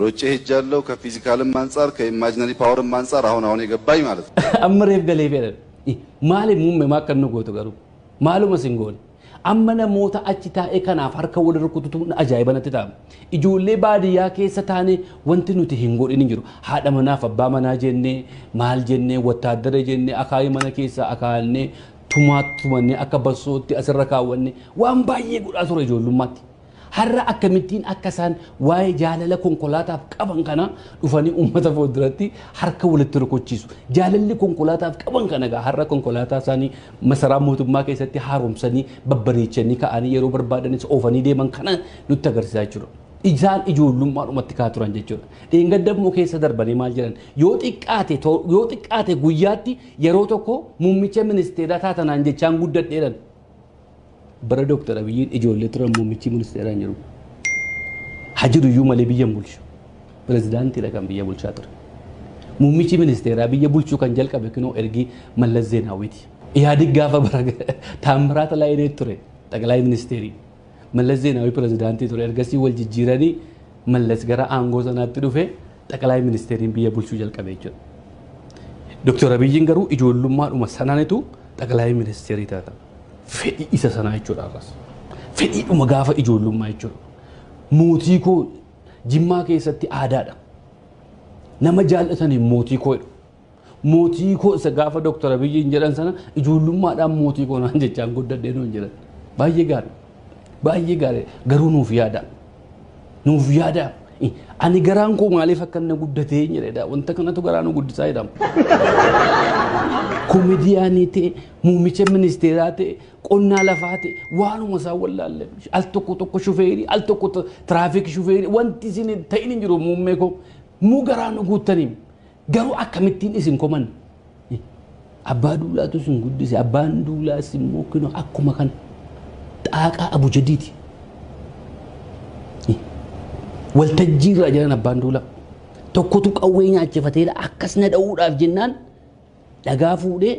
Rocce hejjaalloo ka fiizikaalimma ansaar ka imaajinarii paawarimma ansaar ahon ahonee gabbaay maalat no. Amma reef galee fedhan i maali mumme maa akkan nu gootu garuu maaluma sin goone amma namoota achi taa'ee kanaaf harka wal rukututu ajaa'iba natti ta'a ijoollee baadiyyaa keessa taane wanti nuti hin godhin hin jiru haadha manaaf abbaa manaa jennee maal jennee wattaaddara jennee akaayii mana keessaa akaa'annee tumaa tumannee akka bassootti asirra kaawwanne waan baay'ee godhaa ture ijoollummaatti Har'a akkamittiin akka isaan waa'ee jaalala konkolaataaf qaban kanaa dhufanii uummata fuulduratti harka walitti rukuchiisu. Jaalalli konkolaataaf qaban kana egaa har'a konkolaataa isaanii masaraa mootummaa keessatti haaromsanii babbareechanii ka'anii yeroo barbaadanis oofanii deeman kana nutti agarsiisaa jechuudha. Isaan ijoollummaadhumatti kaa turan jechuudha. Dheengadda immoo keessa darbanii maal jedhan yoo xiqqaate yoo xiqqaate guyyaatti yeroo tokko muummicha ministeeraa taatanaan jechaan guddadheeran. Bara Dooktar Abiyyiin ijoollee turan muummichi ministeeraa hin jiru. Ha jiru iyyuu malee biyya hin bulchu. Pirezidaantiidha kan biyya bulchaa ture. Muummichi ministeeraa biyya bulchuu kan jalqabe kunoo ergi Mallas Zeenaawwiiti. Ihaadig gaafa bara Taammiraat Laayinee ture xaqilaayi ministeerii. Mallas Zeenaawwii pirezidaantii ture ergasii wal jijjiiranii Mallas gara aangoo sanaatti dhufe xaqilaayi ministeeriin biyya bulchuu jalqabe jechuudha. Dooktar Abiyyiin garuu ijoollummaadhuma sananitu xaqilaayi ministeerii taatan. fedhii isa sanaa jechuudha ammas. Fedhiidhuma gaafa ijoollummaa jechuudha. Mootii koo jimmaa keessatti aadaadha. Nama jaallataniin mootii koo jedhu. Mootii koo isa gaafa Dooktar Abiyyiin jedhan sana ijoollummaadhaan mootii koo naan jechaan guddadhee nuun jedhan. Baay'ee gaarii. Baay'ee gaarii. Garuu nuuf yaada. Nuuf yaada. Ani garaan koo maaliif akka inni guddate hin jedhedha. Wanta kanatu garaa nu guddisaa jedhama. Komidiyaanii ta'e, muummicha ministeeraa ta'e, qonnaa lafaa ta'e, waanuma isaa wallaalle. Al tokko tokko shufeerii, al tokko tiraafik shufeerii, wanti isin ta'in hin jiru muummee koo. Muu garaa nu guuttaniim. Garuu akkamittiin isin koman abbaa duulaatu isin guddise abbaan duulaas immoo kino akkuma kan xaaqaa abujadiiti. Waltajjii irraa jiran abbaan duulaa tokkotu qawwee nyaachifateera akkas na dha'uudhaaf jennaan dhagaa fuudhee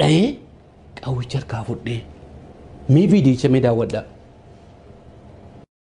dha'ee qawwicha harkaa fudhee mee viidiyicha mee daawwadhaa.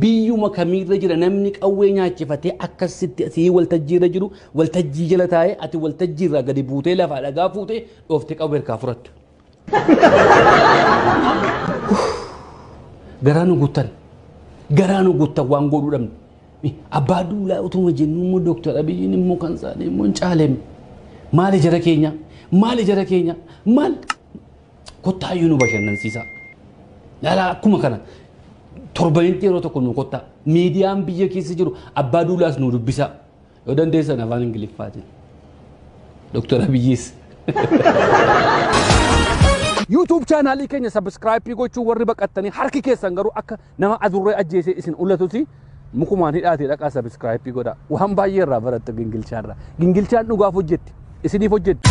biyyuma kamiirra jira namni qawwee nyaachifatee akkas sitti sii waltajjiirra jiru waltajjii jala taa'ee ati waltajjiirraa gadi buutee lafaa dhagaa fuutee dhoofte qawwee harkaa fudhattu. Garaa nu guttan garaa nu guttan waan godhuu dhabne. Abbaa duulaa utuma jennu immoo Dooktar Abiyyiin immoo kan isaanii immoo hin caaleem. Maali jara keenya maali jara keenya maal Kottaa iyyuu nu bashannansiisaa. Laalaa akkuma kana torbanitti yeroo tokko nu kottaa. Miidiyaan biyya keessa jiru abbaa duulaas nu dubbisaa. Yoo dandeessan afaan Ingiliffaatiin. Doktar Abiyyiis. YouTube chaanaalii keenya sabiskiraayippii gochuu warri baqattanii harki keessan garuu akka Nama adurree ajjeesee isin ulatuti mukumaan hidhaatee dhaqaa sabiskiraayipii godha. Waan baay'ee irraa barattu gingilchaa irraa. Gingilchaan dhugaaf hojjetti. Isiniif hojjetti.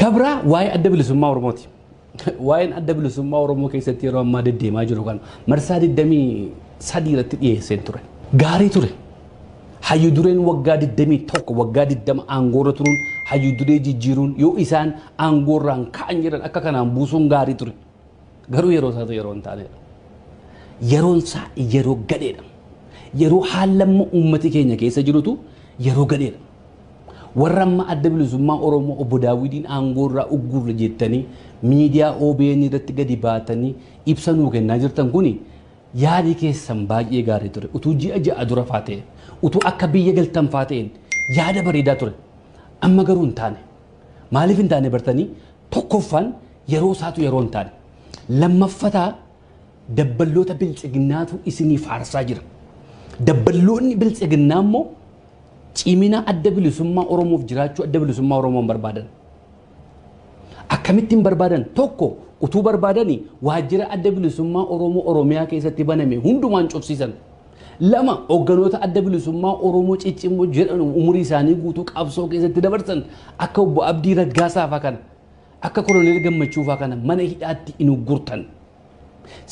Kabraa waa'ee adda bilisummaa Oromooti. Waa'een adda bilisummaa Oromoo keessatti yeroo ammaa deddeemaa jiru kana marsaa 23 irratti dhiyeesseen ture. Gaarii ture. Hayyu dureen waggaa 21 waggaa 20 aangoorra turuun hayyu duree jijjiiruun yoo isaan aangoorraan ka'an jedhan akka kanaan buusuun gaarii ture. Garuu yeroo isaatu yeroo hin taanedha. Yeroon isaa yeroo gadheedha. Yeroo haallamma uummati keenya keessa jirutu yeroo gadheedha. Warra amma adda bilisummaa Oromoo obbo Daawwidiin aangoorraa ugguurra jettanii miidiyaa OBN irratti gadi baatanii ibsa nuu kennaa jirtan kuni Yaadi keessan baay'ee gaarii ture. Utuu ji'a ja'a dura faa ta'e, utuu akka biyya galtan faa ta'een yaada bareedaa ture. Amma garuu hin taane. Maaliif hin taane bartanii? Tokkoffaan yeroo isaatu yeroo hin taane. Lammaffataa dabballoota biltsiginnaatu isinii faarsaa jira. Dabballoonni biltsiginnaa immoo cimina adda bilisummaa Oromoof jiraachuu adda bilisummaa Oromoo hin barbaadan. Akkamitti hin barbaadan? Tokko utuu barbaadani waajjira adda bilisummaa Oromoo Oromiyaa keessatti baname hundumaan cufsiisan. Lama hogganoota adda bilisummaa Oromoo ciccimmoo jedhan umurii isaanii guutuu qabsoo keessatti dabarsan akka obbo Abdii Raggaasaa fa'aa kana akka koloneel Gammachuu fa'aa kana mana hidhaatti hin uggurtan.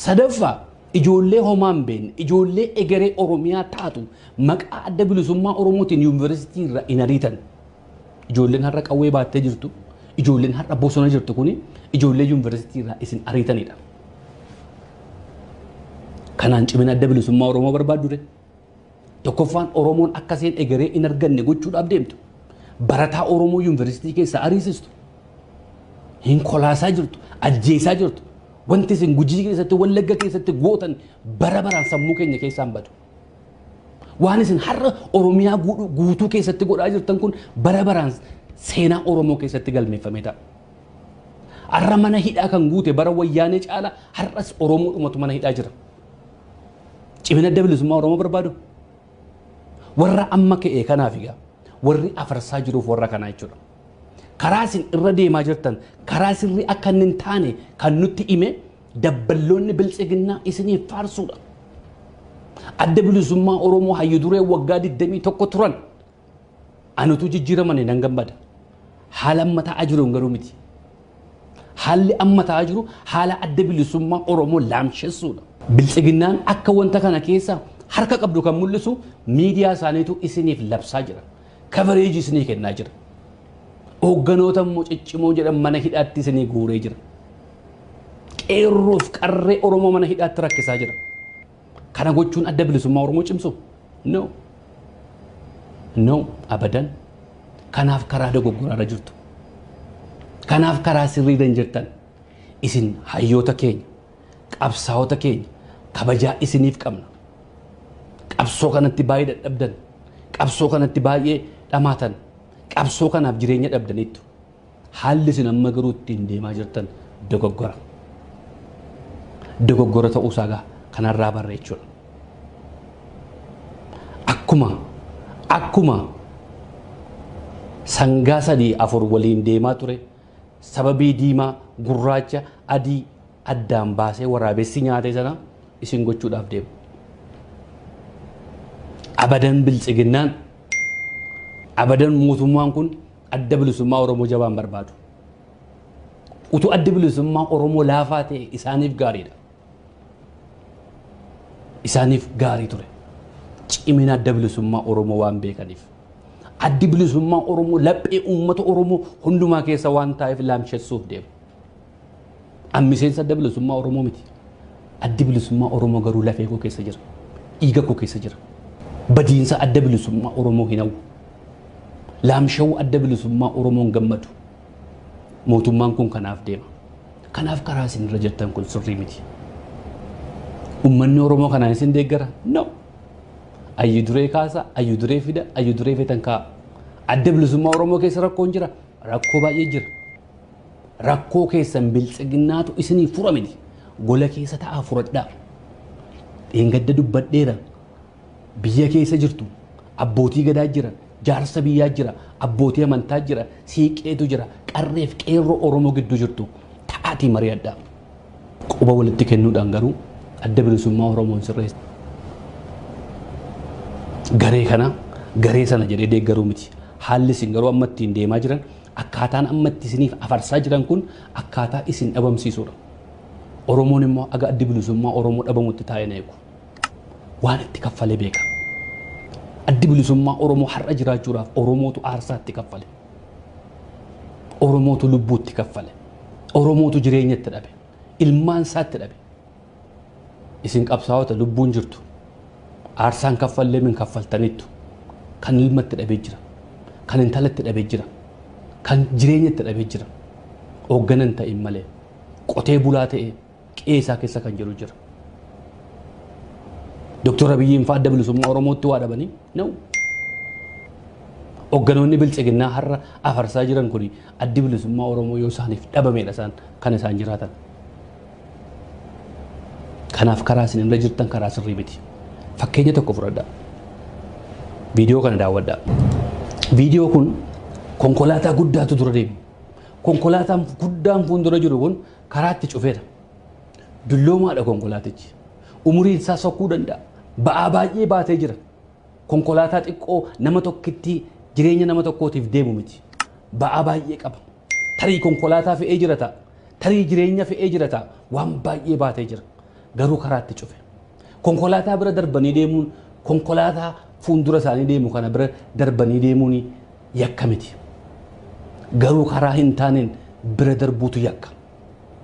Sadaffaa, ijoollee homaa hin beekne, ijoollee egeree Oromiyaa taatu maqaa Adda Bilisummaa Oromootiin yuunivarsiitii irraa hin ariitan. Ijoolleen har'a qawwee baattee jirtu, ijoolleen har'a bosona jirtu kuni ijoollee yuunivarsiitii irraa isin ariitanidha. Kanaan cimina Adda Bilisummaa Oromoo barbaaddu ree? Tokkoffaan Oromoon akka isheen egeree in arganne gochuudhaaf deemtu. Barataa Oromoo yuunivarsiitii keessaa ariisistu. Hin kolaasaa jirtu, ajjeesaa jirtu. Wanti isin gujii keessatti, wallagga keessatti gootan bara baraan sammuu keenya keessaan badu. Waan isin har'a Oromiyaa guutuu- guutuu keessatti godhaa jirtan kun bara baraan seenaa Oromoo keessatti galmeeffamee ta'a. Har'a mana hidhaa kan guute bara wayyaanee caala har'as Oromoodhumatu mana hidhaa jira. Cimina adda bilisummaa Oromoo barbaadu. Warra amma ka'e kanaaf egaa warri afarsaa jiruuf warra kanaa jechuudha. Karaa isin irra deemaa jirtan karaa sirrii akka inni hin taane kan nutti hime dabballoonni biltsiginnaa isiniif faarsuudha. Adda bilisummaa Oromoo hayyu duree waggaa 21 turan Ani utuu jijjiiramanii nan gammada. Haala amma ta'aa jiruun garuu miti. Haalli amma ta'aa jiru haala adda bilisummaa Oromoo laamshessuudha. Biltsiginnaan akka wanta kana keessa harka qabdu kan mul'isu miidiyaa isaaniitu isiniif labsaa jira. Kavereejii isinii kennaa jira. Hoogganoota immoo ciccimoo jedhan mana hidhaatti isinii guuree jira. Qeerroof qarree Oromoo mana hidhaatti rakkisaa jira. Kana gochuun adda bilisummaa Oromoo cimsu? No. No, abadan. Kanaaf karaa dogoggoraa irra jirtu. Kanaaf karaa sirrii irra hin jirtan. Isin hayyoota keenya, qabsaa'ota keenya kabajaa isiniif qabna. Qabsoo kanatti baay'ee dadhabdan. Qabsoo kanatti baay'ee dhamaatan. Qabsoo kanaaf jireenya dhabdaniittu. Haalli isin amma garuu ittiin deemaa jirtan dogoggora. Dogoggora ta'uu isaa egaa kanarraa barra jechuudha. Akkuma akkuma sangaa sadii afur waliin deemaa ture sababii diimaa gurraacha adii addaan baasee waraabessi nyaate sana isin gochuudhaaf deema. Abadan biltsiginnaan abadan mootummaan kun Adda Bilisummaa Oromoo jabaan barbaadu. Utuu addi bilisummaa Oromoo laafaa ta'e isaaniif gaariidha. Isaaniif gaarii ture. Cimina adda bilisummaa Oromoo waan beekaniif. Addi bilisummaa Oromoo laphee uummata Oromoo hundumaa keessa waan taa'eef laamshessuuf deema. An miseensa Adda Bilisummaa Oromoo miti. Addi Bilisummaa Oromoo garuu lafee koo keessa jira. Dhiiga koo keessa jira. Badiinsa Adda Bilisummaa Oromoo hin hawwu. Laamsha'uu Adda Bilisummaa Oromoon gammadu. Mootummaan kun kanaaf deema. Kanaaf karaa isin irra jirtan kun sirrii miti. Uummanni Oromoo kanaan isin deeggara? No. Ayyu duree kaasa, ayyu duree fida, ayyu duree feetan kaa'a. Adda Bilisummaa Oromoo keessa rakkoon jira. Rakkoo baay'ee jira. Rakkoo keessan biltsiginnaatu isiniif fura miti. Gola keessa ta'aa furadhaa. Dheengadda dubbadheera. Biyya keessa jirtu. Abbootii gadaa jira. Jaarsa biyyaa jira. Abbootii amantaa jira. Siiqqeetu jira. Qarreef qeerroo Oromoo gidduu jirtu. Ta'aatii mari'adhaa. Quba walitti kennuudhaan garuu adda bilisummaa Oromoo hin sirreessu. Garee kana garee sana jedhee deeggaruu miti. Haalli isin garuu amma ittiin deemaa jiran Akkaataan amma itti isiniif afarsaa jiran kun akkaataa isin dhabamsiisuudha. Oromoon immoo aga addi bilisummaa Oromoo dhabamutti taa'een eegu. Waan itti kaffalee beeka. Addi bilisummaa Oromoo har'a jiraachuudhaaf Oromootu aarsaa itti kaffale. Oromootu lubbuu itti kaffale. Oromootu jireenya itti dhabe. Ilmaan isaa itti dhabe. Isin qabsaa'ota lubbuun jirtu. Aarsaan kaffallee min kaffaltanittu. Kan ilma itti dhabe jira. Kan intala itti dhabe jira. Kan jireenya itti dhabe jira. Hooggana hin ta'in malee. Qotee bulaa ta'ee qe'ee isaa keessa kan jiru jira. Doktor Abiyyiin fa'aa adda bilisummaa Oromootti waa dhabanii? No. Hoogganoonni biltsiginnaa har'a afarsaa jiran kun addi bilisummaa Oromoo yoo isaaniif dhabameedha isaan kan isaan jiraatan. Kanaaf karaa isin irra jirtan karaa sirrii miti. Fakkeenya tokko fudhadha. Viidiyoo kana daawwadha. Viidiyoo kun konkolaataa guddaatu dura deema. Konkolaataan guddaan fuuldura jiru kun karaatti cufeera. Dulloomaadha konkolaatichi. Umuriin isaa sokkuu danda'a. Ba'aa baay'ee baatee jira. Konkolaataa xiqqoo nama tokkittii jireenya nama tokkootiif deemu miti. Ba'aa baay'ee qaba. Tarii konkolaataa fe'ee jira ta'a. Tarii jireenya fe'ee jira ta'a. Waan baay'ee baatee jira. Garuu karaatti cufe. Konkolaataa bira darbanii deemuun konkolaataa fuuldura isaanii deemu kana bira darbanii deemuun yakka miti. Garuu karaa hin taaneen bira darbuutu yakka.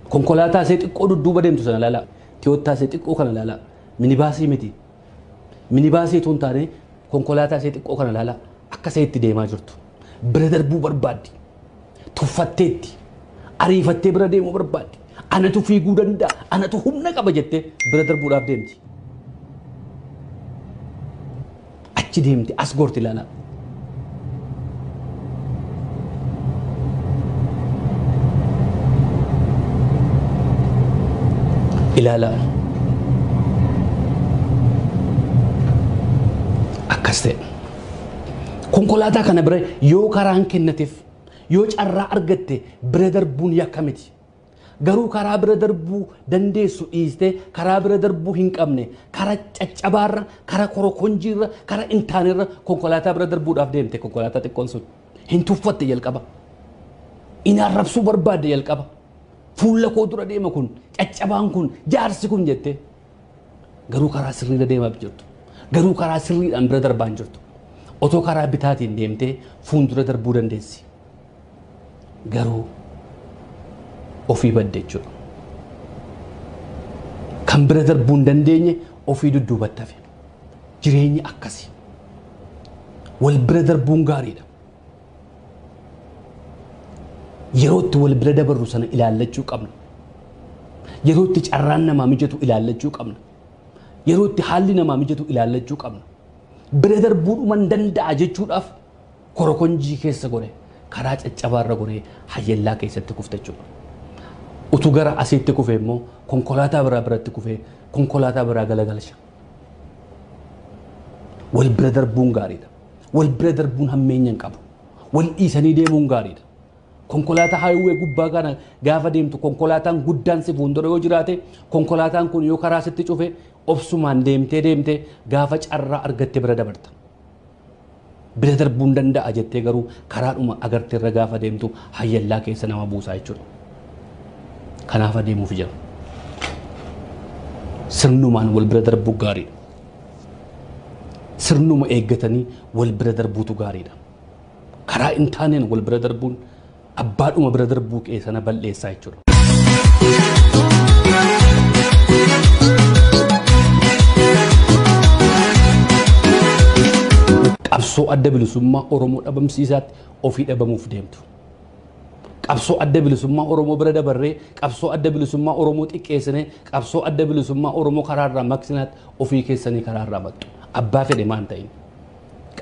Konkolaataa isee xiqqoo dudduuba deemtu sana ilaalaa. Tiyoottaa isee xiqqoo kana ilaalaa. Minibaasii miti. Minibaasii utuu hin taane konkolaataa isee xiqqoo kana ilaalaa. Akka isee itti deemaa jirtu. Bira darbuu barbaaddi. Tuffatteetti. Ariifattee bira deemuu barbaaddi. Anatu fiiguu danda'a. Anatu humna qaba jettee bira darbuudhaaf deemti. Achi deemti as goorti ilaalaa. Ilaalaa. Akkas ta'e. Konkolaataa kana bira yoo karaan kennateef yoo carraa argatte bira darbuun yakka miti. Garuu karaa bira darbuu dandeessu dhiistee karaa bira darbuu hin qabne kara caccabaarra, kara korokonjiirra, kara hin taanerra konkolaataa bira darbuudhaaf deemte konkolaataa xiqqoon sun. Hin tuffatte jalqaba. Hin arrabsuu barbaadde jalqaba. Fuula koo dura deema kun, caccabaan kun, jaarsi kun jettee. Garuu karaa sirriirra deemaaf jirtu. Garuu karaa sirriidhaan bira darbaa hin jirtu. Otoo karaa bitaatiin deemtee fuuldura darbuu dandeessi. Garuu ofii badde jechuudha. Kan bira darbuu hin dandeenye ofii dudduubatti hafe. Jireenyi akkasi. Wal bira darbuun gaariidha. Yeroo itti wal bira dabarru sana ilaallachuu qabna. Yeroo itti carraan namaa mijatu ilaallachuu qabna. Yeroo itti haalli namaa mijatu ilaallachuu qabna. Bira darbuudhuman danda'a jechuudhaaf korokonjii keessa gore karaa caccabaarra goree hayyallaa keessatti kufta jechuudha. Utuu gara asiitti kufe immoo konkolaataa biraa biratti kufee konkolaataa biraa galagalcha. Wal bira darbuun gaariidha. Wal bira darbuun hammeenya hin qabu. Wal dhiisanii deemuun gaariidha. Konkolaataa highway gubbaa kana gaafa deemtu konkolaataan guddaan si fuuldura yoo jiraate konkolaataan kun yoo karaa sitti cufe obsumaan deemtee deemtee gaafa carraa argatte bira dabarta. Bira darbuun danda'a jettee garuu karaadhuma agarte irra gaafa deemtu hayyallaa keessa nama buusaa jechuudha. Kanaaf adeemuuf jedhu. Sirnumaan wal bira darbuu gaariidha. sirnuma eeggatanii wal bira darbuutu gaariidha. Karaa hin taaneen wal bira darbuun abbaadhuma bira darbuu kee sana bal'eessaa jechuudha. Qabsoo adda bilisummaa Oromoo dhabamsiisaatti ofii dhabamuuf deemtu. Qabsoo Adda Bilisummaa Oromoo bira dabarree qabsoo Adda Bilisummaa Oromoo xiqqeessinee qabsoo Adda Bilisummaa Oromoo karaa irraa maqsinaatti ofii keessanii karaa irraa maqxu. Abbaa fedhe maan ta'in.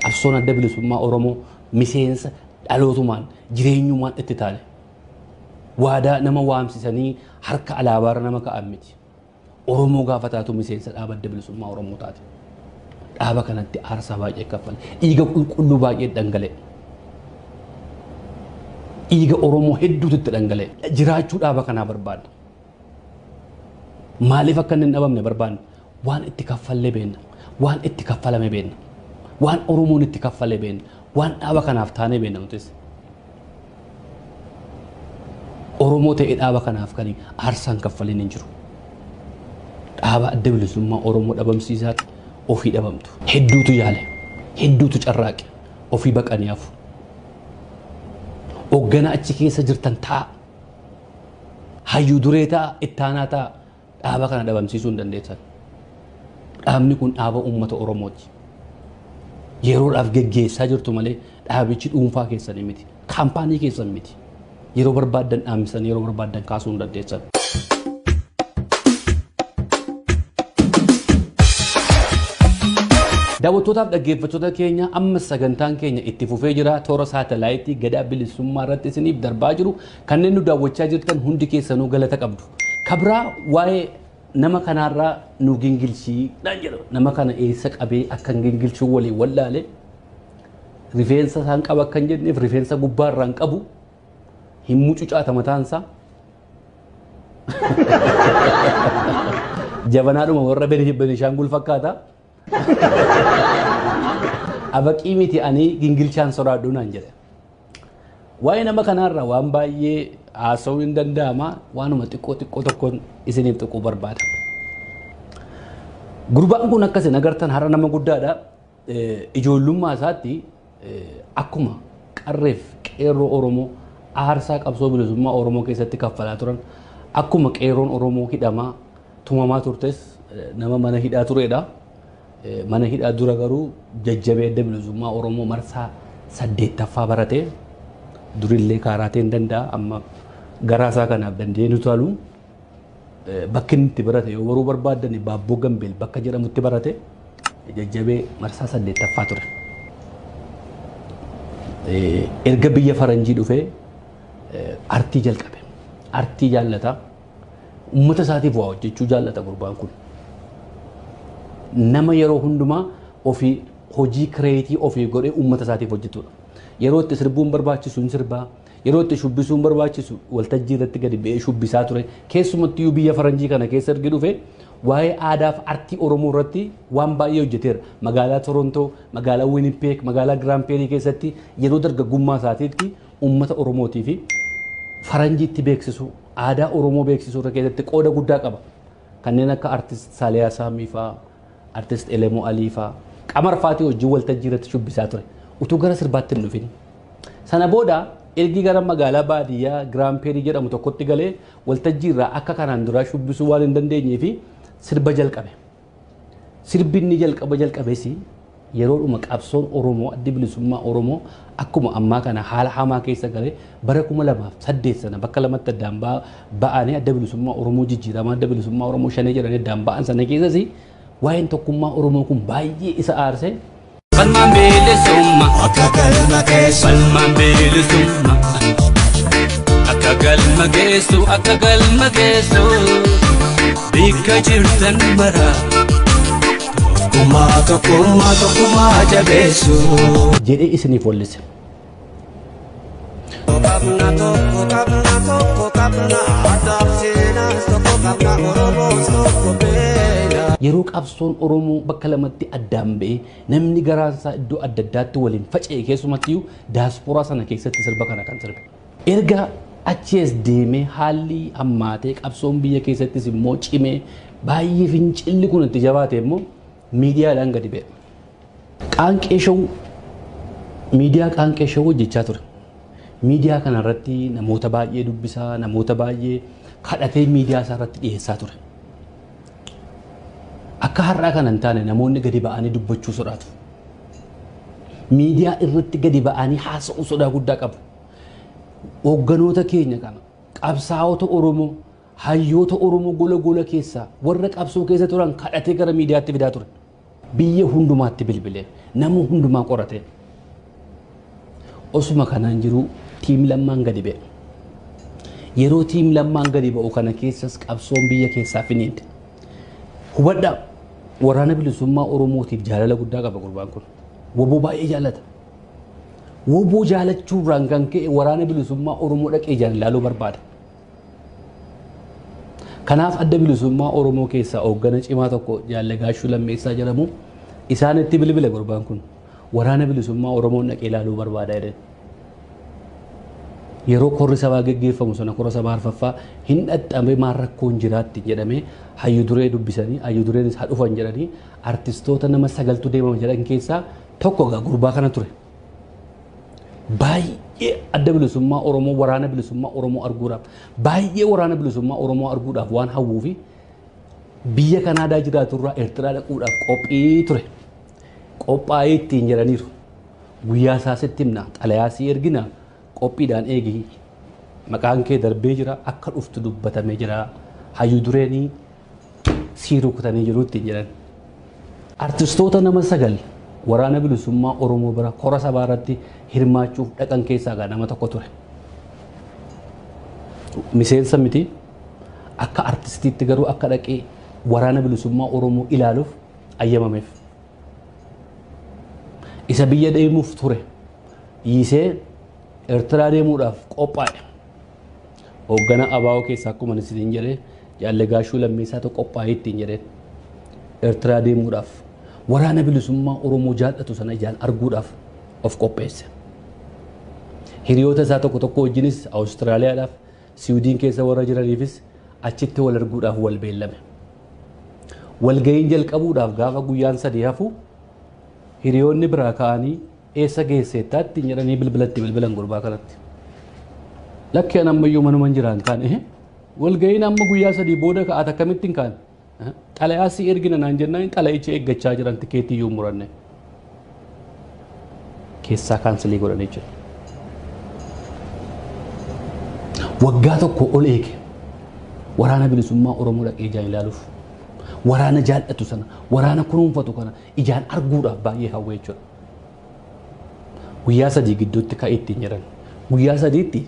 Qabsoon Adda Bilisummaa Oromoo miseensa dhalootumaan jireenyumaan itti taane. Waadaa nama waamsisanii harka alaabaarra nama ka'an miti. Oromoo gaafa taatu miseensa dhaaba adda bilisummaa Oromoo taate. Dhaaba kanatti aarsaa baay'ee kaffale. Dhiiga qulqulluu baay'ee dhangala'e. Dhiiga Oromoo hedduutu itti dhangala'e. Jiraachuu dhaaba kanaa barbaadna. Maaliif akka inni hin dhabamne barbaadna? Waan itti kaffallee beenna. Waan itti kaffalame beenna. Waan Oromoon itti kaffalee beenna. Waan dhaaba kanaaf taanee beenna nutis. Oromoo ta'ee dhaaba kanaaf kan aarsaan kaffaleen hin jiru. Dhaaba adda bilisummaa Oromoo dhabamsiisaa ofii dhabamtu. Hedduutu yaale. Hedduutu carraaqe. Ofii baqanii hafu. Hoogganaa achi keessa jirtan ta'a. Hayyuu duree ta'a, ittaanaa ta'a. Dhaaba kana dhabamsiisuu hin dandeessan. Dhaabni kun dhaaba uummata Oromooti. Yeroodhaaf geggeessaa jirtu malee dhaabichi dhuunfaa keessanii miti. Kaampaanii keessan miti. Yeroo barbaaddan dhaamsisanii yeroo barbaaddan kaasuu hin dandeessan. Daawwattootaaf dhaggeeffattoota keenya amma sagantaan keenya itti fufee jira. Toora saatalaayitii gadaa bilisummaa irratti isiniif darbaa jiru. Kanneen nu daawwachaa jirtan hundi keessanuu galata qabdu. Kabraa waa'ee nama kanaarraa nu gingilchii naan jedha. Nama kana eessa qabee akkan gingilchuu waliin wallaale. Rifeensa isaan qaba akkan jenneef rifeensa gubbaa irraan qabu hin mucucaata mataan isaa. Jabanaadhuma warra Benishaangul fakkaata. Abaqii miti ani gingilchaan soraadhu naan jedhe. Waa'ee nama kanaarra waan baay'ee haasa'uu hin danda'ama waanuma xiqqoo xiqqoo tokkoon isiniif tuquu barbaada. Gurbaan kun akkas hin agartan har'a nama guddaadha. Ijoollummaa isaatti akkuma qarreef qeerroo Oromoo aarsaa qabsoo bilisummaa Oromoo keessatti kaffalaa turan akkuma qeerroon Oromoo hidhamaa tumamaa turtes nama mana hidhaa turedha. Mana hidhaa dura garuu jajjabee adda bilisummaa Oromoo marsaa saddeettaffaa barate durillee kaaraateen danda'a amma garaasaa kanaaf dandeenyu taalu. Bakki inni itti barate yoo baruu barbaaddan Baabboo Gambeel bakka jedhamutti barate jajjabee marsaa saddeettaffaa ture. Erga biyya faranjii dhufee artii jalqabe. Artii jaallata. Uummata isaatiif waa hojjechuu jaallata gurbaan kun. Nama yeroo hundumaa ofii hojii kireetii ofii godhee uummata isaatiif hojjetudha. Yeroo itti sirbuun barbaachisu hin sirbaa, Yeroo itti shubbisuun barbaachisu waltajjii irratti gadi ba'ee shubbisaa ture. Keessumattiyyuu biyya faranjii kana keessa erga dhufe waa'ee aadaaf artii Oromoo irratti waan baay'ee hojjeteera. Magaalaa Torontoo, magaalaa Winnipeg, magaalaa Grand Prairie keessatti yeroo dargaggummaa isaatiitti uummata Oromootii fi faranjiitti beeksisuu, aadaa Oromoo beeksisuu irra keessatti qooda guddaa qaba. Kanneen akka artist Saaliyaa Saamii fa'aa, Artist Elemoo Alii faa, Qamar faatii wajjin waltajjii irratti shubbisaa ture. Utuu gara sirbaatti hin dhufin. Sana booda ergi gara magaalaa baadiyyaa Giraampeerii jedhamu tokkotti galee waltajjii irraa akka kanaan duraa shubbisuu waan hin dandeenyee fi sirba jalqabe. Sirbi inni jalqaba jalqabes yeroodhuma qabsoon Oromoo addi bilisummaa Oromoo akkuma ammaa kana haala hamaa keessa galee bara 2008 sana bakka lamatti addaan ba- ba'anii adda bilisummaa Oromoo jijjiiramaa adda bilisummaa Oromoo shanee jedhanii addaan ba'an sana keessas waa'een tokkummaa Oromoo kun baay'ee isa aarsee Falmaan bilisumma Akka galma geessu Falmaan bilisumma Akka galma geessu Akka galma geessu Bikka jirtan mara Tokkummaa tokkummaa tokkummaa jabeessuu. jedhee isiniif wallise. Qabna tokko qabna tokko qabna adaaf seenaas tokko qabna oromoos tokko beela. Yeroo qabsoon Oromoo bakka lamatti addaan ba'ee namni garaan isaa iddoo adda addaatti waliin faca'e keessumattiyyuu daaspooraa sana keessatti sirba kana kan sirbe. Erga achi as deemee haalli hammaatee qabsoon biyya keessattis immoo cimee baay'ee fincilli kun itti jabaate immoo miidiyaadhaan gadi ba'e. Qaanqee Show miidiyaa Qaanqee Show hojjechaa ture. Miidiyaa kana irratti namoota baay'ee dubbisaa, namoota baay'ee kadhatee miidiyaa isaa irratti dhiyeessaa ture. Akka har'aa kana hin taane namoonni gadi ba'anii dubbachuu sodaatu. Miidiyaa irratti gadi ba'anii haasa'uu sodaa guddaa qabu. Hoogganoota keenya kana qabsaa'ota Oromoo hayyoota Oromoo gola gola keessaa warra qabsoo keessa turan kadhatee gara miidiyaatti fidaa ture. Biyya hundumaatti bilbilee nama hundumaa qoratee osuma kanaan jiruu tiim lammaan gadi ba'e. Yeroo tiim lammaan gadi ba'u kana keessas qabsoon biyya keessaa finiinte. Hubadhaa waraana bilisummaa Oromootiif jaalala guddaa qaba gurbaan kun. Woboo baay'ee jaalata. Woboo jaalachuu irraan kan ka'e waraana bilisummaa Oromoo dhaqee ijaan ilaaluu barbaada. Kanaaf adda bilisummaa Oromoo keessaa hooggana cimaa tokko jaallee gaashuu lammeessaa jedhamu isaanitti bilbile gurbaan kun waraana bilisummaa Oromoon dhaqee ilaaluu barbaada jedhan. Yeroo korri sabaa geggeeffamu sana kora sabaa arfaffaa hin dhaxxame maal rakkoon jiraatti jedhamee hayyu duree dubbisanii hayyu dureenis haa dhufan jedhanii artistoota nama sagaltu deemama jedhan keessaa Tokko egaa gurbaa kana ture. Baay'ee adda bilisummaa Oromoo waraana bilisummaa Oromoo arguudhaaf baay'ee waraana bilisummaa Oromoo arguudhaaf waan hawwuu fi biyya Kanaadaa jiraatu irraa Eertiraa dhaquudhaaf qophii ture. Qophaa'ee ittiin jedhaniiru. Guyyaa isaa sitti himna xalayaa si ergina qophiidhaan eegi maqaan kee darbee jira akka dhuftu dubbatamee jira. Hayyuu dureenii sii rukutanii jiru ittiin jedhan. Artistoota nama sagal waraana bilisummaa Oromoo bira kora sabaa irratti hirmaachuuf dhaqan keessaa gaa nama tokko ture. Miseensa miti akka artistiitti garuu akka dhaqee waraana bilisummaa Oromoo ilaaluuf ayyamameef. Isa biyya deemuuf ture. Yiisee Eertiraa deemuudhaaf qophaa'e. Hooggana ABO keessaa akkuma ani siin jedhe Jaalle Gaashuu Lammeessaatu qophaa'ee ittiin jedheen. Ertiraa deemuudhaaf waraana bilisummaa Oromoo jaallatu sana ijaan arguudhaaf of qopheesse. Hiriyoota isaa tokko tokko wajjinis Awustiraaliyaadhaaf Siwiidiin keessa warra jiraniifis achitti wal arguudhaaf wal beellame. Walga'iin jalqabuudhaaf gaafa guyyaan sadii hafu hiriyoonni biraa ka'anii Eessa geesseetta ittiin jedhanii bilbila itti bilbilan gurbaa kanatti. Lakki an ammayyuu manuman jiraan kaan ehe. Walga'iin amma guyyaa sadii booda ka'aat akkamittiin kaan. Eh, Xalayaa si ergina naan jennaan xalayicha eeggachaa jiran tikeetii iyyuu hin muranne. Keessaa kaansilii godhanii jiru. Waggaa tokko ol eege. Waraana bilisummaa Oromoo dhaqee ijaan ilaaluuf. Waraana jaallatu sana, waraana kunuunfatu kana ijaan arguudhaaf baay'ee hawwee jechuudha. Guyyaa sadii gidduutti ka'e ittiin jedhan. Guyyaa sadiitti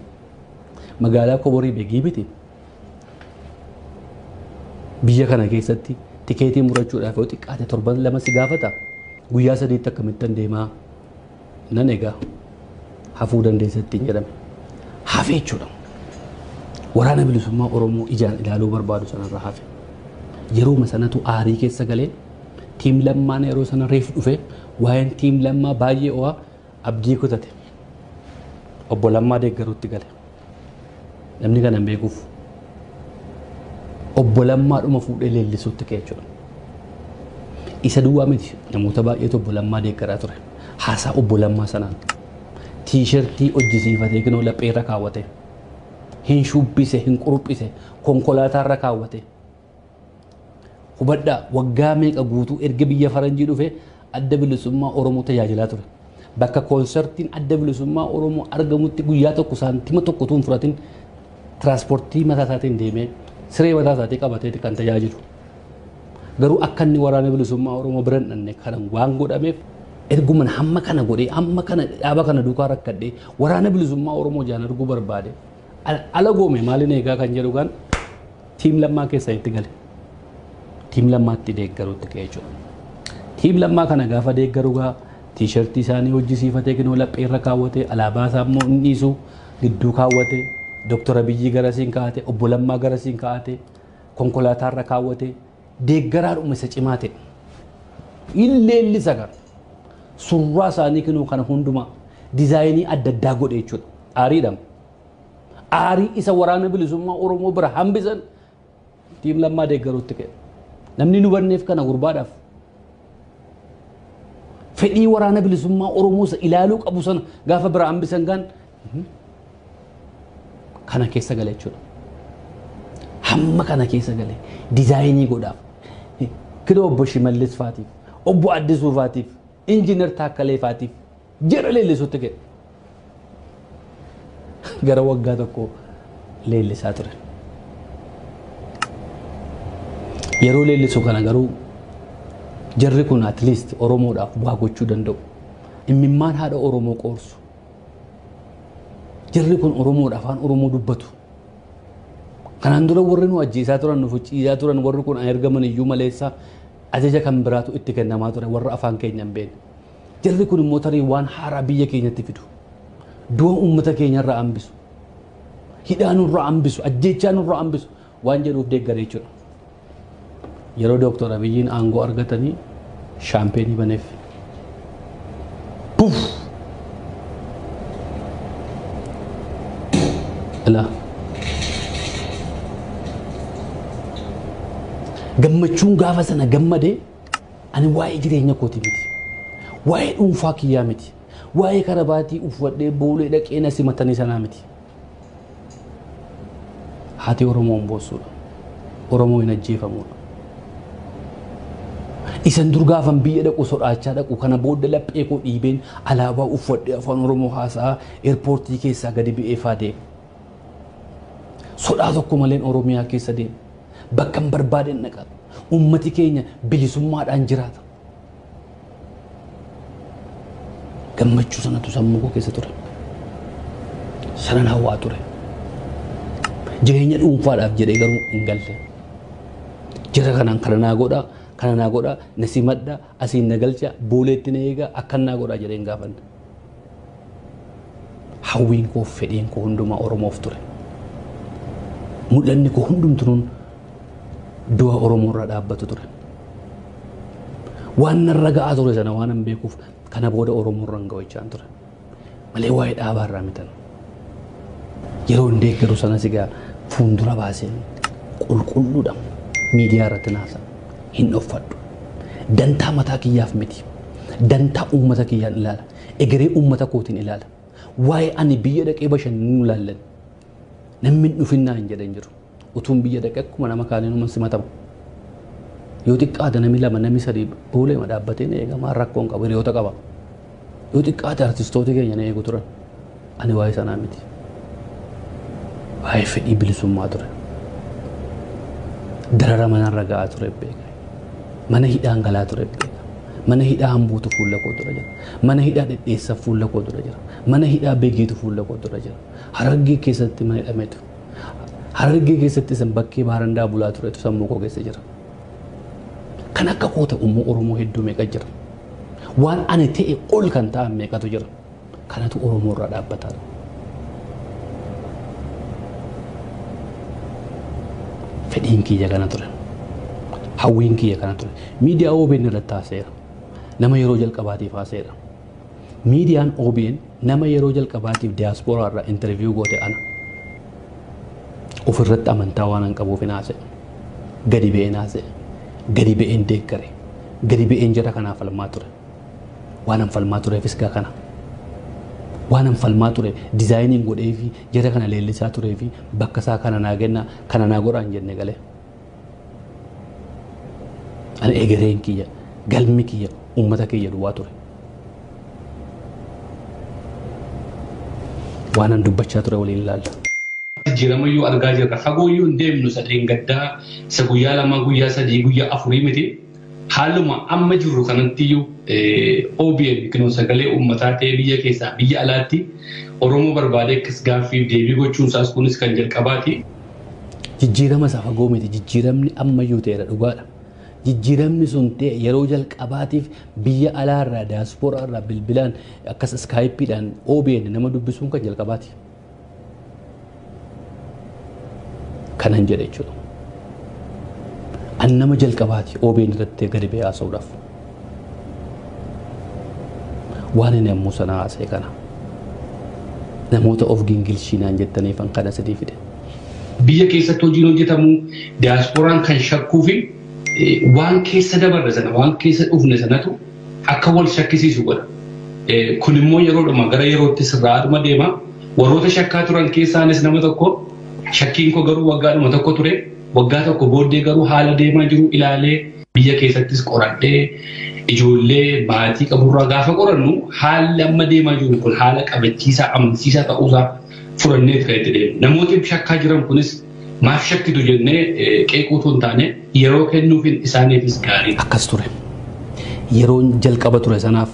magaalaa Koborii Begii miti biyya kana keessatti tikeetii murachuudhaaf yoo xiqqaate torban lama si gaafata. Guyyaa sadiitti akkamittan deemaa nan egaa hafuu dandeessa ittiin jedhame. Hafe jechuudha. Waraana bilisummaa Oromoo ijaan ilaaluu barbaadu sanarra hafe. Yeruma sanatu aarii keessa galee Tiim Lammaan yeroo sana reef dhufe waa'een tiim Lammaa baay'ee ho'aa abdii kutate. Obbo Lammaa deeggaruutti gale. Namni kana hin beekuuf. Obbo Lammaa dhuma fuudhee leellisuutti ka'e jechuudha. Isa duwwaa miti namoota baay'eetu obbo Lammaa deeggaraa ture. Haasaa obbo Lammaa sanaan tiishartii hojjisiifatee kinoo lapheerra kaawwate. Hin shubbise, hin quruphise, konkolaataarra kaawwate. Hubadhaa, waggaa meeqa guutuu erga biyya faranjii dhufee Adda Bilisummaa Oromoo tajaajilaa ture. Bakka koonsartiin Adda Bilisummaa Oromoo argamutti guyyaa tokko saantima tokko utuu hin fudhatin tiraanspoortii mataa isaatiin deemee siree mataa isaatii qabateeti kan tajaajilu. Garuu akka inni waraana bilisummaa Oromoo bira hin dhanne kana waan godhameef erguman hamma kana godhee amma kana dhaaba kana duukaa rakkadhee waraana bilisummaa Oromoo jaan arguu barbaade ala goome maaliin eegaa kan jedhu kan Tiim Lammaa keessa itti gale. Tiim Lammaatti deeggaruutti ka'e jechuudha. Tiim Lammaa kana gaafa deeggaru gaa tiishartii isaanii hojjisiifatee kinoo laphee irra kaawwatee alaabaa isaa immoo hin dhiisu gidduu kaawwatee Dooktar Abiyyii garasiin kaa'ate obbo Lammaa garasiin kaa'ate konkolaataa irra kaawwatee deeggaraadhuma isa cimaa ta'e. Illeellisa gara surraa isaanii kinoo kana hundumaa dizaayinii adda addaa godhe jechuudha. Aariidhama. aarii isa waraana bilisummaa Oromoo bira hambisan tiim lammaa deeggaruutti ka'e. Namni nu banneef kana gurbaadhaaf fedhii waraana bilisummaa Oromoo isa ilaaluu qabu sana gaafa bira hambisan kaan kana keessa gale jechuudha. Hamma kana keessa gale dizaayinii godhaaf kira obbo Shimallis faatiif obbo Addisuu faatiif injiinar Taakkalee faatiif jedha leellisuutti ga'e. Gara waggaa tokko leellisaa ture. Yeroo leellisu kana garuu jarri kun at least Oromoodhaaf waa gochuu danda'u. Immimmaan haadha Oromoo qoorsu. Jarri kun Oromoodha afaan Oromoo dubbatu. Kanaan dura warri nu ajjeesaa turan nu fuchiisaa turan warri kun ergaman iyyuu maleessaa ajaja kan biraatu itti kennamaa ture warra afaan keenya hin beekne. Jarri kun immoo tarii waan haaraa biyya keenyatti fidu. Du'a uummata keenya irraa hambisu. Hidhaa nurraa hambisu. Ajjeechaa nurraa hambisu. Waan jedhuuf deeggare jechuudha. Yeroo Dooktor Abiyyiin aangoo argatanii shaampeenii baneef. Puf! Ilaa. Gammachuun gaafa sana gammadee Ani waa'ee jireenya kooti miti. Waa'ee dhuunfaa kiyyaa miti. Waa'ee karabaatii uffadhee boolee dhaqee na simatanii sanaa miti. Haati Oromoo hin boossuudha. Oromoo hin ajjeefamuudha. Isan dur gaafan biyya dhaqu sodaachaa dhaqu kana booda laphee koo dhiibeen alaabaa uffadhee afaan Oromoo haasa'aa eerpoortii keessaa gadi ba'ee faa deema. Sodaa tokko maleen Oromiyaa keessa deema. Bakkan barbaaden dhaqa. Uummati keenya bilisummaadhaan jiraata. Gammachuu sanatu sammuu koo keessa ture. Sanan hawwaa ture. Jireenya dhuunfaadhaaf jedhee garuu hin galle. Jira kanaan kana naa godhaa, kana naa godhaa, na simadha, asiin na galcha, booleetti na eegaa, akkan naa godhaa jedhee hin gaafanne. Hawwiin koo fi fedhiin koo hundumaa Oromoof ture. Mul'anni koo hundumtunuun du'a Oromoo irraa dhaabbatu ture. Waan narra ga'aa ture sana waan hin beekuuf kana booda Oromoo irra hin ga'u jechaan ture. Malee waa'ee dhaabaa irraa mitan Yeroo hin deeggaru sanas egaa fuuldura baasee qulqulluudha miidiyaa irratti naasa hin dhoffadhu. Dantaa mataa kiyyaaf miti. Dantaa uummata kiyyaan ilaala. Egeree uummata kootiin ilaala. Waa'ee ani biyya dhaqee bashannanuu ilaallan namni hin dhufin naan jedhan jiru. Utuun biyya dhaqe akkuma nama kaaniinuman simatama. Yoo xiqqaate nami lama nami sadii booleema dhaabbatee na eega maal rakkoon qabu hiriyoota qaba. Yoo xiqqaate artistooti keenya na eegu turan. Ani waa'ee sanaa miti. Waa'ee fedhii bilisummaa ture. Darara manarra ga'aa ture beeka. Mana hidhaan galaa ture beeka. Mana hidhaa hambuutu fuula koo dura jira. Mana hidhaa dhedheessa fuula koo dura jira. Mana hidhaa begeetu fuula koo dura jira. Harargee keessatti mana hidhametu. Harargee keessatti isan bakkee baarandaa bulaa turetu sammuu koo keessa jira. Kan akka koo ta'u immoo Oromoo hedduu meeqa jira. Waan ani ta'e ol kan ta'an meeqatu jira. Kanatu Oromoo irraa dhaabbataa dha. Fedhiin kiyya kana ture. Hawwiin kiyya kana ture. Miidiyaa OBN irratti haaseera. Nama yeroo jalqabaatiif haaseera. Miidiyaan OBN nama yeroo jalqabaatiif diyaaspooraa irraa intarviyuu goote ana. Ofirratti amantaa waan an qabuuf hin haasa'e. Gadi ba'een haasa'e. Gadi ba'een deeggare. Gadi ba'een jara kanaa falmaa ture. Waan an falmaa tureefis gaa kana. Waan an falmaa ture dizaayiniin godhee fi jara kana leellisaa turee fi bakka isaa kana naa kennaa kana naa godhaan jenne galee. Ani egereen kiyya galmi kiyya uummata kiyya duwwaa ture. Waan an dubbachaa ture waliin ilaalla. jijjiirama iyyuu argaa jirra. Fagoo iyyuu hin deemnu isa dheengaddaa isa guyyaa lamaa guyyaa sadii guyyaa afurii miti. Haaluma amma jirru kanatti iyyuu OBN yookiin sagalee uummataa ta'ee biyya keessaa biyya alaatti Oromoo barbaadee akkas gaaffiif deebii gochuun isaas kunis kan jalqabaati. Jijjiirama isa fagoo miti. Jijjiiramni ammayyuu ta'eera dhugaadha. Jijjiiramni sun ta'e yeroo jalqabaatiif biyya alaarraa daaspooraarraa bilbilaan akkas iskaayippiidhaan OBN nama dubbisuun kan jalqabaati. Kanan jedhe jechuudha. An nama jalqabaati OBN irratti gadi ba'ee haasa'uudhaaf. waan inni ammoo sana haasa'e kana namoota of gingilchiinaan jettaniifan kana sidii fide. Biyya keessatti hojiin hojjetamu diyaaspooraan kan shakkuu fi waan keessa dabarre sana waan keessa dhufne sanatu akka wal shakkisiisu godha. Kun immoo yeroodhuma gara yerootti sirraa dhuma deema. Warroota shakkaa turan keessaanis nama tokko shakkiin koo garuu waggaadhuma tokko ture. Waggaa tokko booddee garuu haala deemaa jiru ilaalee Biyya keessattis qoradhee ijoollee maatii qaburraa gaafa qorannu haalli amma deemaa jiru kun haala qabachiisaa amansiisaa ta'uusaa furanneet kan itti deemu. Namooti shakkaa jiran kunis maaf shakkitu jennee qeequu otoo hin taane yeroo kennuufin isaaniifis gaariidha. Akkas ture. Yeroon jalqaba ture sanaaf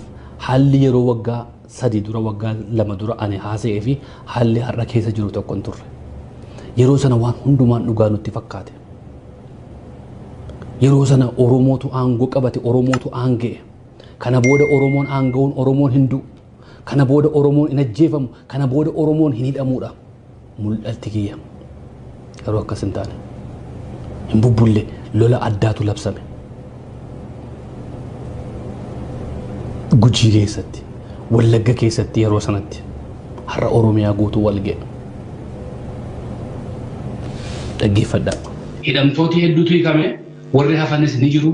haalli yeroo waggaa sadii dura waggaa lama dura ani haasa'ee fi haalli har'a keessa jiru tokko hin turre. Yeroo sana waan hundumaan dhugaa nutti fakkaate. Yeroo sana Oromootu aangoo qabate, Oromootu aanga'e. Kana booda Oromoon aanga'uun Oromoon hin du'u. Kana booda Oromoon hin ajjeefamu. Kana booda Oromoon hin hidhamuudha. Mul'atti kiyya. Garuu akkas hin taane. Hin bubbulle lola addaatu labsame. Gujii keessatti, Wallagga keessatti yeroo sanatti har'a Oromiyaa guutuu wal ga'e. Dhaggeeffadhaa. Hidhamtooti hedduutu hiikame, warri hafanis ni jiru.